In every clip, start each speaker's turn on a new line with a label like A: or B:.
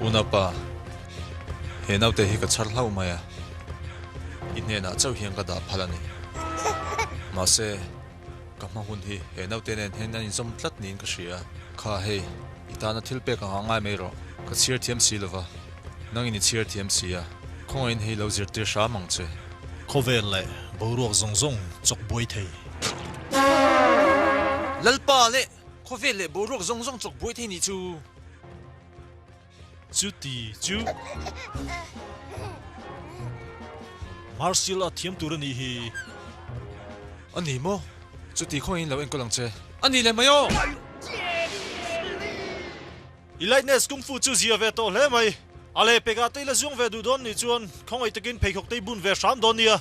A: Una pa, he naute hi ka chhar hlauh mai a, i hnenah chauh hian ka dah phalh a ni. Mahse, ka hma hun hi he naute nen hian an inzawm tlat niin ka hria a. Kha hei, i tana thil pek a nghah ngai mai rawh. Ka chhiar thiam si lova, nangin i chhiar thiam si a, khawngain hei lo zir tir hram ang che. Khawvel leh boruak zawng zawng chawk buai thei. Lalpa leh Khawvel leh boruak zawng zawng chawk buai thei ni chu. Chuti chu. Martial art thiam tur a nih hi. A ni maw? Chuti khaw in lo enkawl ang che. A ni leh mai aw! I lightness kung fu chu zia ve tawh hle mai. A le pek ah tei la zuang ve duh dawn nih chuan khawngaih takin pheikhawk tei bun ve hram dawn nia.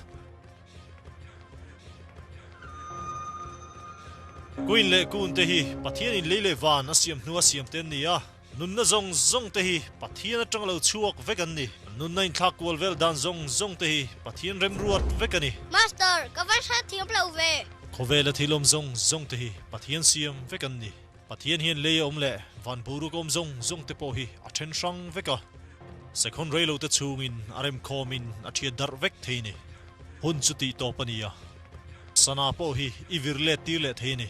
A: Kuin leh kun te hi Pathian in lei leh van a siam hnua siam te an ni a, nunna zawng zawng te hi Pathian atang lo chhuak vek an ni. Nunna inthlak kual vel dan zawng zawng te hi Pathian remruat vek a ni. Master, ka vansat thiam lo ve. Khawvel a thilawm zawng zawng te hi Pathian siam vek an ni. Pathian hian lei a awm leh van buruk a awm zawng zawng te pawh hi a then hrang vek a. Sekhawn rei lo te chungin a rem khawm in a thiat darh vek thei ni. Hun chu tih tawp a ni a. Sana pawh hi i vir let tir leh thei ni.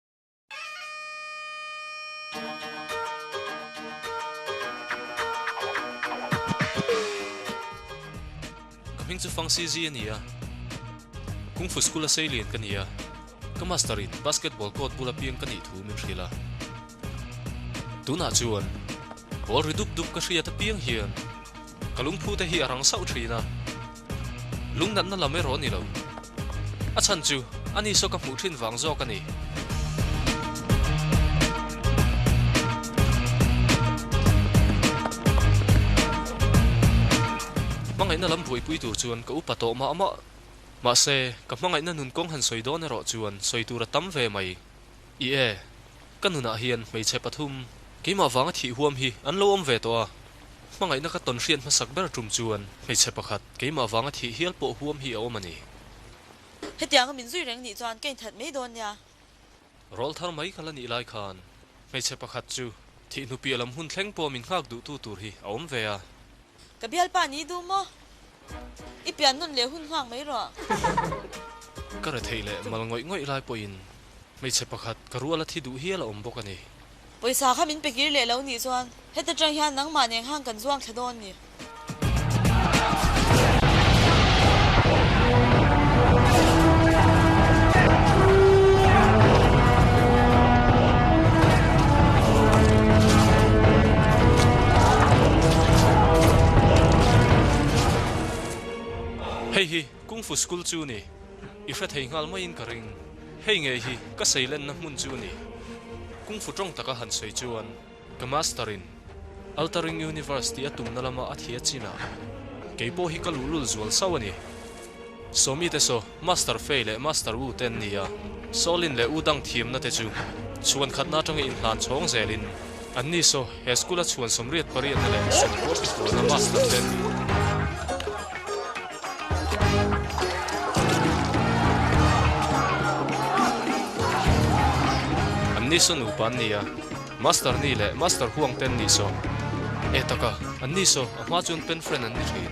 A: Ka hming chu Fang CZ a ni a. Kung Fu School-a Seilian ka ni a. Ka master-in basketball court bula piang ka nih thu min hrilh a. Tunah chuan ball ri dup dup ka hriat apiang hian. Ka lungphu te hi a rang sauh thin a, lungnatna lam erawh a ni lo. A chhan chu a ni saw ka hmuh thin vang zawk a ni. Hmangaihna lam buaipui tur chuan ka upa tawh mah mah. Mahse, ka hmangaihna nun kawng han sawi dawn erawh chuan sawi tur a tam ve mai. I e, ka nunah hian hmeichhe pathum keimah vanga thih huam hi an lo awm ve tawh a, hmangaihna ka tawn hriat hmasak ber tum chuan hmeichhe pakhat keimah vanga thih hial pawh huam hi a awm a ni. Hetiang a min zui reng nih chuan ka inthat mai dawn nia. Rawl thar mai ka la nih lai khan hmeichhe pakhat chu thih hnupiah lam hun thleng pawh min nghak duhtu tur hi a awm ve a. Ka bial pa ni duh maw? I pian nun leh hun nghak mai rawh. Ka re theih leh mal ngawih ngawih lai pawhin hmeichhe pakhat ka rual a thi duh hial a awm bawk a ni. Pawisa kha min pe kir leh lo nih chuan heta tang hian nangmah nen hang kan zuang thla dawn ni. Hei hi Kung Fu School chu ni? I hrethei nghal maiin ka ring. Hei ngei hi ka seilenna hmun chu ni? Kung Fu tawng taka han sawi chuan ka Master-in Altering Universe tih a tumna lama a thia chinah kei pawh hi ka luhlul zual sau a ni. Sawmi te saw, Master Fei leh Master Wu te an ni a, Saw Lin leh U Dang thiamna te chu chhuan khatna atanga inhlan chhawng zelin an ni saw he school-a chhuan sawmriat pariatna leh sawmkual hnakualna Master te an ni. An ni saw nupa an ni a, Master Ni leh Master Huang te an ni saw, e taka, an ni saw, a hma chuan pen friend an ni thin.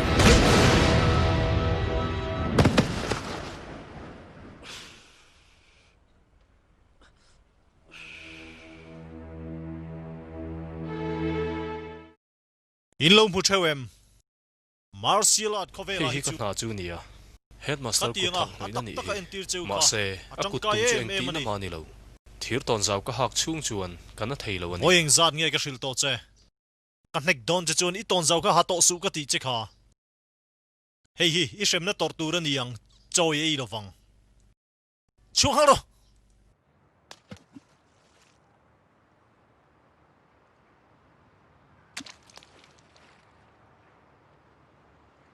A: In lo hmu theu em? Martial art khaw velah hi chu. Hei hi ka hna chu nia. Headmaster kut thawk hnuin a nih hi. Mahse, a kut tum chu eng tihna nga ni lo. Thir tawn zau ka hak chhung chuan ka na thei lo a ni. Vawiin zat nge ka hrilh tawh che? Ka hnek dawn che chuan i tawnzau kha ha tawh suh ka tih che kha. Hei hi i hremna tawrh tur a ni ang chawi ei lovang. Chhuak nghal rawh!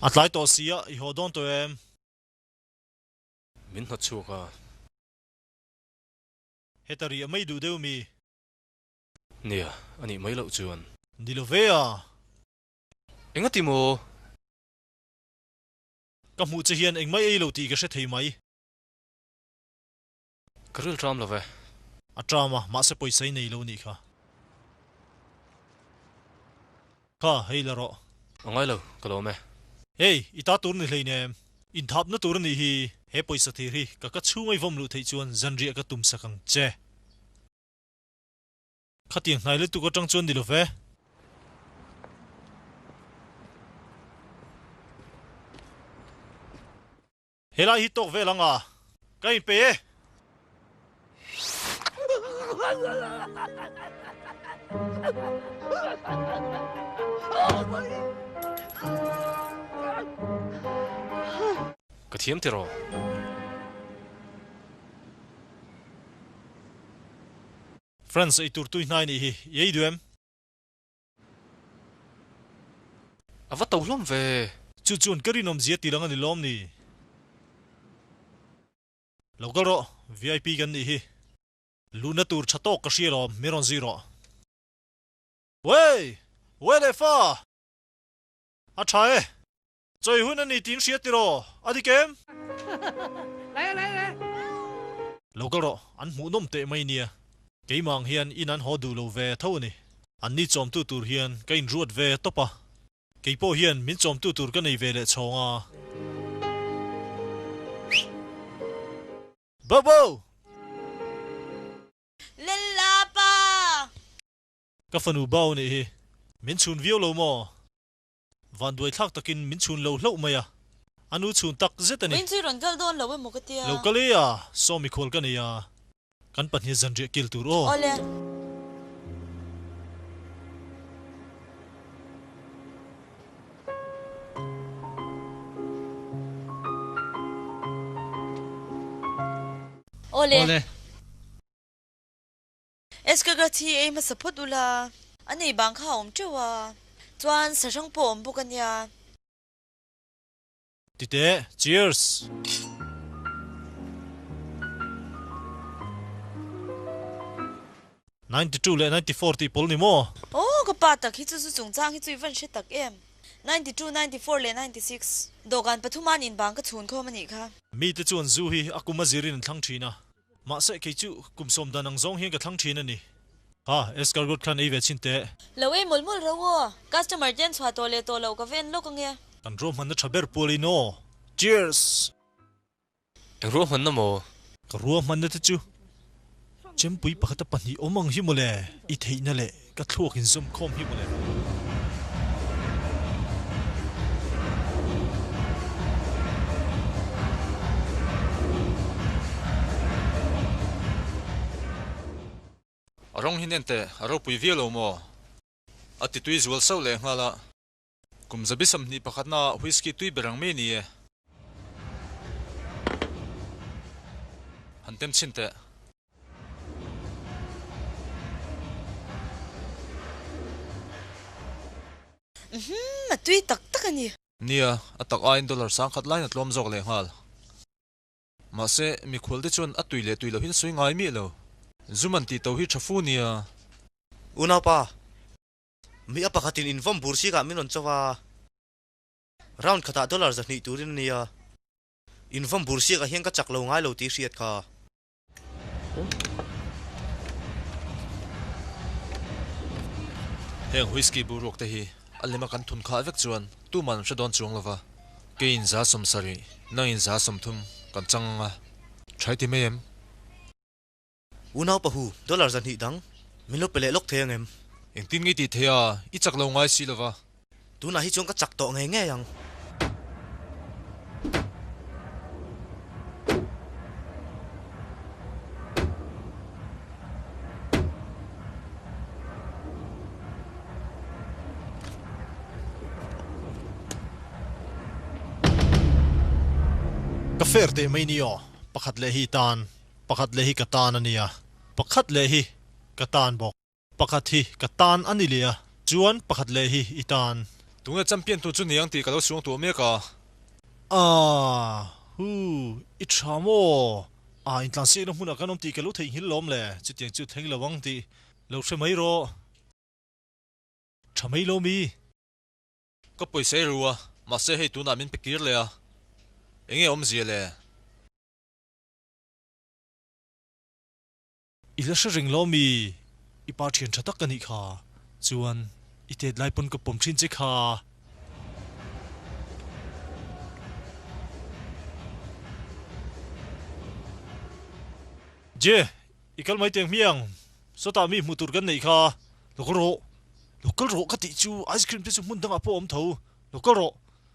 A: A tlai tawh si a, i haw dawn tawh em? Min hnawt chhuak a. Heta ri a mei duh deuh mi. Nia, a nih mai loh chuan. Ni lo ve a, Enga ti maw? Ka hmuh che hian engmah ei lo tih ka hre thei mai. Ka ril ṭam lo ve. A ṭam a, mahse pawisa i nei lo nih kha. Kha, hei la rawh. A ngai lo, ka lawm e. Hei, i ta tur ni hlein em? Inthapna tur a nih hi. He pawisa thir hi ka ka chhunga i vawm luh theih chuan zanriah ka tum sak ang che. Khati a hnai lutuk atang chuan ni lo ve. He lai hi tawk vel ang a. Ka in pe e. Ka thiam tir aw. France eitur tuihnai nih hi i ei duh em? A va to hlawm ve. Chu chuan ka rinawm zia tirang a ni lawm ni? Lo kal rawh, VIP kan nih hi. Luhna tur tha tawk ka hria lawm, mi rawn zui rawh. Wei! Wei leh fa! A tha e. Chawi hun a ni tiin hria tiraw? A dik em? Lo kal rawh, an hmuh nawm teh mai nia. Keimah ang hian in an haw duh lo ve tho a ni. An ni chawmtu tur hian ka inruat ve tawp a. Kei pawh hian min chawmtu tur ka nei ve leh chhawng a. Bobo! Lella pa! Ka fanu Bao nih hi. Min chhun viau lo maw? Vanduaithlak takin min chhun lo hlauh mai a, a nu chhun tak zet a ni. Engchin rawn kal dawn lo emaw ka ti a. Lo kal e a, saw mikhawl ka nei a. Kan pahniha zanriah kil tur aw. Aw le. Aw le. S ka grat hi ei hmasa phawt ula. A nei bang kha a awm teuh a. Chuan sahrang pawh a awm bawk a nia. Ti teh. Cheers. Ninety two leh ninety four tih pawlh ni maw? Aw ka pa tak hi chu chu chungchang hi chu i van hre tak em. Ninety two, ninety four leh ninety six. Dawhkan pathuma an in bang ka chhun khawm a nih kha. Mite chuan zu hi a kum a zir in an thlang thin a. Mahse, kei chu kum sawm dan ang zawng hian ka thlang thin a ni. Ha, escargot khan ei ve chin teh. Lo ei mawlh mawlh rau aw. Customer te an chhuah tawh leh tawh loh ka ven lawk ange. Kan ruahmanna tha ber pual in aw. Cheers! Eng ruahmanna maw? Ka ruahmanna te chu chempui pakhata pahnih awm ang hi maw le? I theihna leh. Ka thluk in zum khawm hi maw le. Rawng hi nen teh a ropui viau lo maw? A ti tui zual sauh leh nghal a. Kum zabi sam hnih pakhat na ah whisky tui ber ang mai ni e. Han tem chin teh. Uhmm a tui tak tak a ni. Nia, a tak aiin dollar sang khat lain a tluam zawk leh nghal. Mahse, mikhual te chuan a tui leh tui lohin sawi ngai miah lo. Zum an tih to hi tha fu nia. U naupa, Mi a pakhatin invawn bur sikah min rawn chauh a, round khatah dollar zahnih turin a nia, invawn bur sikah hian ka chak lo ngai lo tih hriat kha. Heng whisky boruak te hi a lem a kan thun khah vek chuan tuman an hre dawn chuang lova, kei in za sawm sarih, nang in za sawm thum kan chang anga, thaiti mai em? U naupa hu, dollar zahnih dang min lo pe leh lawk thei ang em? Engtin nge i tih theih a, i chak lo ngai si lo va. Tunah hi chuan ka chak tawh ngei ngei ang. Ka fair teh mai ni aw, pakhat leh hi tan. Pakhat leh hi ka tan a nia. Pakhat leh hi ka tan bawk. Pakhat hi ka tan a ni leh a. Chuan pakhat leh hi i tan. Tunge champion tu chu ni ang tih ka lo suang tuah mek a. Aah! Hu! I tha maw? Aah intlan sik na hmun ah kan awm tih ka lo theihnghilh lawm le. Chutiang chu thleng lo ang tih lo hre mai rawh. Tha mai lo mi? Ka pawisei ru a. Mahse hei tunah min pe kir leh a. Enge awmzia le? I hla hre reng lo mi, i pa thian tha tak ka nih kha, chuan i tet lai pawn ka pawm thin che kha. Jay, i kal mai teng hmiang, sawtah mi hmuh tur kan neih kha, lo kal rawh, lo kal rawh ka tih chu ice cream te chu hmun dangah pawh awm tho, lo kal rawh.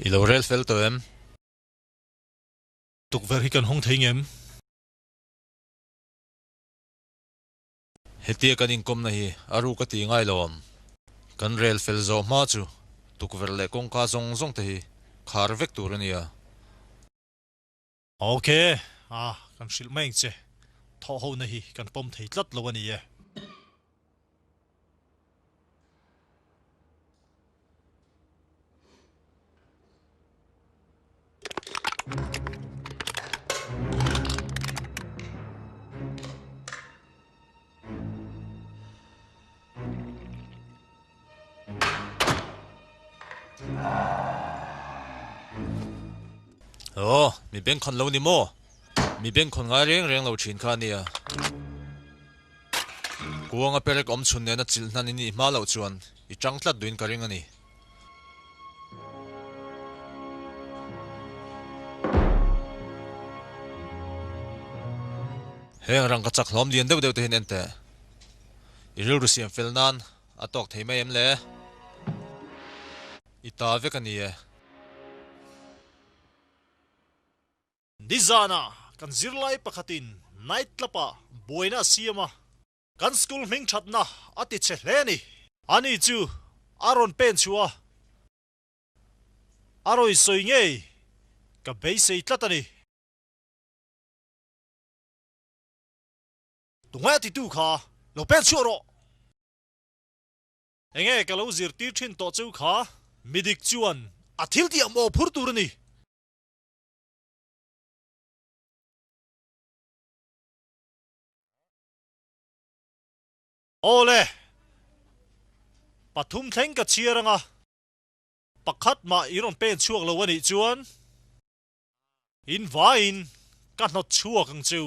A: I lo rel fel tawh em? Tukverh hi kan hawng thei ngem? Hetia kan inkawmna hi a ruk a ti ngai lo ang. Kan rel fel zawh hma chu tukverh leh kawngka zawng zawng te hi khar vek tur a nia. Ok a, kan hrilh mai ang che. Thawhhona hi kan pawm thei tlat lo a ni e. Ồ, mi beng khon lo ni maw? Mi beng khon ngai reng reng lo ṭhin kha a nia. Kuanga perek awm chhun nena chilh hnan i nih hma loh chuan i chang tlat duhin ka ring a ni. Heng rang ka chak hlawm lian deuh deuh tehin ente i rilru siam fel nan a tawk thei mai em le? I ta vek a ni e. Nizana kan zirlai pakhatin night club ah buaina a siam a, kan school hming thatna a ti chhe hle a ni. Ani chu a rawn pen chhuah a, a rawi sawi ngei ka beisei tlat a ni. Tungai a titu kha lo pen chhuah rawh. Enge ka lo zirtir thin tawh cheu kha midik chuan a thil tih a mawh phur tur a ni. Aw le! Pathum thleng ka chhiar anga, pakhat mah i rawn pen chhuak lo a nih chuan, in vaiin ka hnawt chhuak ang chu.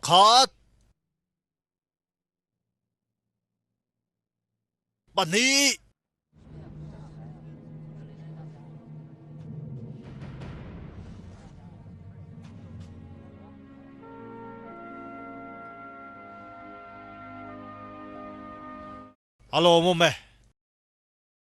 A: Pakhat. Pahnih. Alo mum e.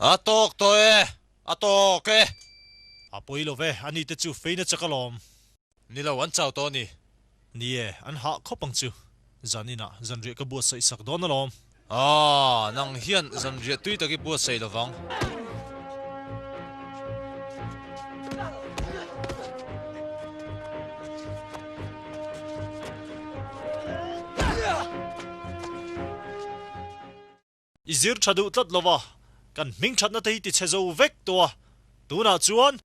A: A tawk tawh e, a tawk e. A pawi lo ve, ani te chu feina che ka lawm. Ni lo, an chau tawh a ni. Ni e, an hah khawp ang chu. Zan inah zanriah ka buatsaih sak dawn alawm. Aw, nang hian zanriah tui tak i buatsaih lo vang. I zir tha duh tlat lova kan hming thatna te hi ti chhe zo vek tawh a, tunah chuan.